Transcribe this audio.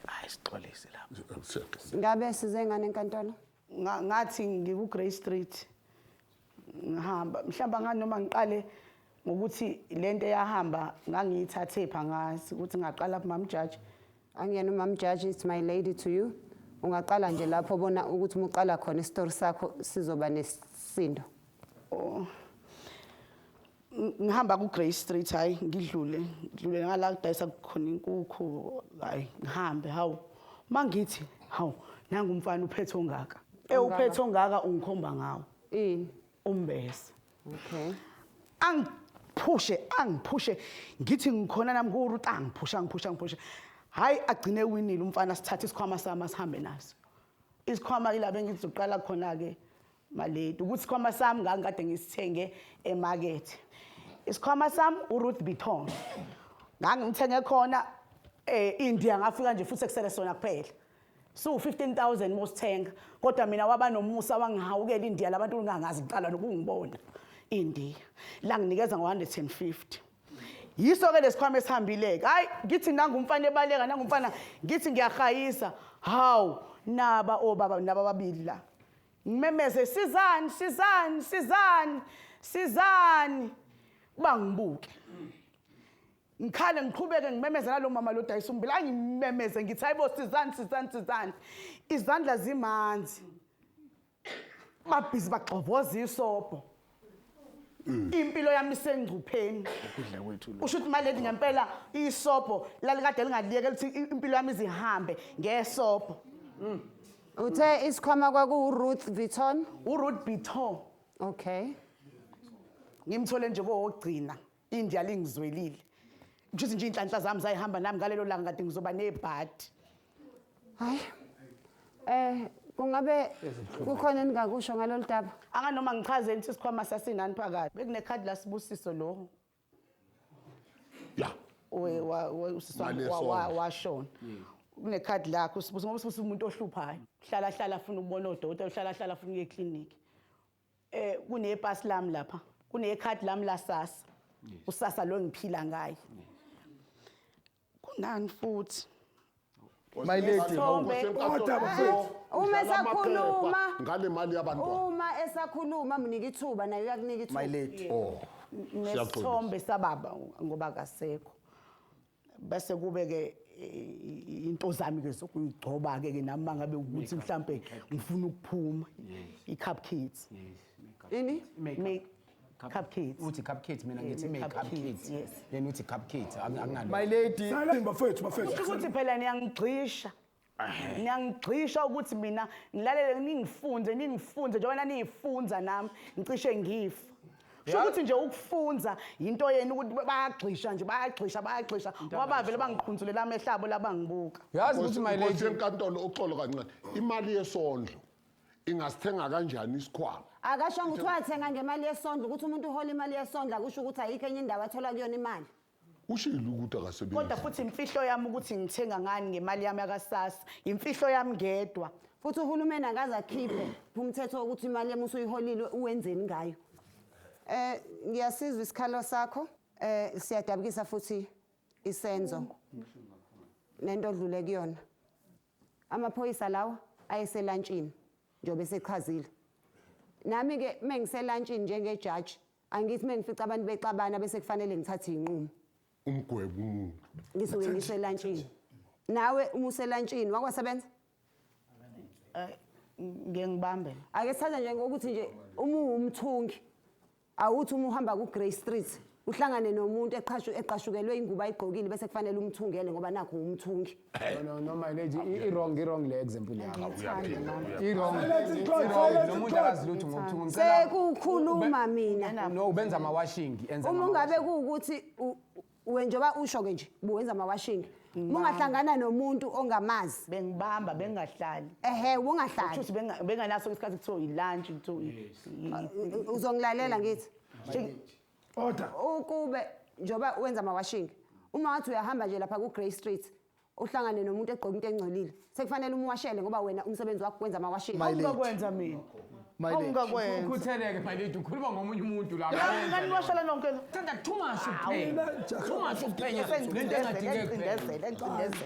hayi sixolise lapho ngabe size ngane enkantolo Nga- ngathi ngiku-grey street ngihamba mhlawumbe angani noma ngiqale ngokuthi le nto eyahamba ngangiyithathe pha ngazi ukuthi ngaqala kumamjaji angiyena umamjaji it's my lady to you ungaqala nje lapho bona ukuthi uma uqala khona isitori sakho sizoba nesisindo Oh. ngihamba ku-grey street hhayi ngidlule ngidlule ngala kudayisa khona inkukhu hhayi ngihambe hawu uma ngithi hawu nangu umfana uphethe ongaka ewuphethe ongaka ungikhomba ngawo ini umbese okay angiphushe angiphushe ngithi ngikhona nami kuwuruta angiphushe angiphushe angiphushe hhayi agcine winile umfana sithathe isikhwama sami asihambe naso isikhwama ila bengizoqala khona-ke Maledi ukuthi sikhwama sami ngangikade ngisithenge emakethe isikhwama sami uruth bitong ngangimthenge khona eh india ngafika nje futhi ekusele sona kuphela so 15000 mosithenga kodwa mina waba nomusa wangihawukela india labantu ungangazi ngiqala nokungibona india la nginikeza ngo150 yiso ke lesikhwama esihambileke hayi ngithi nangumfana ebaleka nangumfana ngithi ngiyahayisa hawu naba obaba naba babili la ngimemeze sizani sizani sizani sizani uba ngibuke ngikhale ngiqhubeke ngimemeze nalo mama lo dayisa umbila angimemeze ngithi hayibo sizani sizani sizani izandla zimanzi babhizi bagxovoza isobho impilo yami isengcupheni ukudla kwethu lo usho ukuthi maledi ngempela isobho lalikade lingaliyeke lithi i- impilo yami izihambe ngesobho Uthe isikhwama kwaku Ruth Vuitton. uruth biton Okay. ngimthole nje kowogcina India lingizwelile ngishuthi nje inhlanhla zami zayihamba nami ngalelo langa kade ngizoba nebhadi hayi eh kungabe kukhona eningakusho ngalolu daba anganoma ngichaze nithi isikhwama sasinani phakathi bekunekhadi lasibusiso lo ya washona hmm. kunekhadi lakho usibuso ngoba usibuso umuntu ohluphayo hlala hlala afuna ukubona odokotela hlala hlala afuna ukuye ekliniki eh kunepasi lami lapha kunecard lami la sasa usasa lo ngiphila ngaye kunani futhi My lady, Isithombe. Kodwa bafethu. Uma esakhuluma ngale mali yabantwana uma esakhuluma mnike ithuba naye uyakunika my ithuba lady. oh nesithombe sababa ngoba akasekho bese kube ke into zami ke sokuyigcoba ke ke nami mangabe ukuthi mhlambe ngifuna ukuphuma i-cup kids ini cup kids uthi cup kids mina ngithi make cup kids yena uthi cup kids anginalo my lady bafethu bafethu ukuthi phela niyangigxisha niyangigxisha ukuthi mina ngilalele ningifunze ningifunze njengoba naniyifunza nami ngicishe ngifa sho ukuthi nje ukufunza yinto yenu ukuthi bayagxisha nje bayagxisha bayagxisha ngoba bavele bangiqhunzulela amehlo abo labangibuka yazi ukuthi my Nkosi lady yenkantolo uxolo kancane imali yesondlo ingasithenga kanjani isikhwama akashongo ukuthi wathenga ngemali yesondlo ukuthi umuntu uhola imali yesondlo akusho ukuthi ayikho enye indawo athola kuyona imali Ushilo ukuthi akasebenzi. Kodwa futhi imfihlo yami ukuthi ngithenga ngani ngemali yami yakasasa. Imfihlo yami ngedwa. Futhi uhulumeni akaze akhiphe umthetho wokuthi imali yami usuyiholile uwenzeni ngayo. Eh ngiyasizwa isikhalo sakho. Eh siyadabukisa futhi isenzo. Nento odlule kuyona. Amaphoyisa lawa ayeselantshini njobe sechazile. Nami ke mengiselantshini njengejaji Angithi mengifica abantu bexabana bese kufanele ngithathe inqumo. Umgwebo umuntu. Ngisuke ngiselantshini. Nawe uma uselantshini wakwasebenza? Eh, ngeke ngibambe. Ake sithathe nje ngokuthi nje uma uwumthungi awuthi uma uhamba ku Grey Street uhlangane nomuntu eqhashu eqashukelwe ingubo ayigqokile bese kufanele umthungele ngoba nakho umthungi. No, no, no, my lady, i- i-wrong, i-wrong le example yakho. Ngithanda mama. I-wrong. Noma umuntu akazi lutho ngokuthi ngicela Sekukhuluma mina. no ubenza ama washing enza Uma ama ungabe kuwukuthi u- we njengoba usho ke nje buwenza ama washing. Ungahlangana nomuntu ongamazi. bengibamba bengahlali Ehhe ungahlali. shuthi benga- benganaso isikhathi kuthiwa yilunch kuthiwa i- i- Uzongilalela ngithi. Shake- Order. Ukube njoba wenza ama washing uma wathi uyahamba nje lapha ku Grey Street uhlangane nomuntu egqoka into engcolile sekufanele umwashele ngoba wena umsebenzi wakho kwenza ama washing. My lady. Awungakwenza mina. My lady. Awungakwenza. Ukhutheleke my lady ukhuluma ngomunye umuntu la. Ngani ngani washela nonke la. Thanda too much ukuphenya. Too much ukuphenya. Lento engadingeki. Ngicindezela, ngicindezela.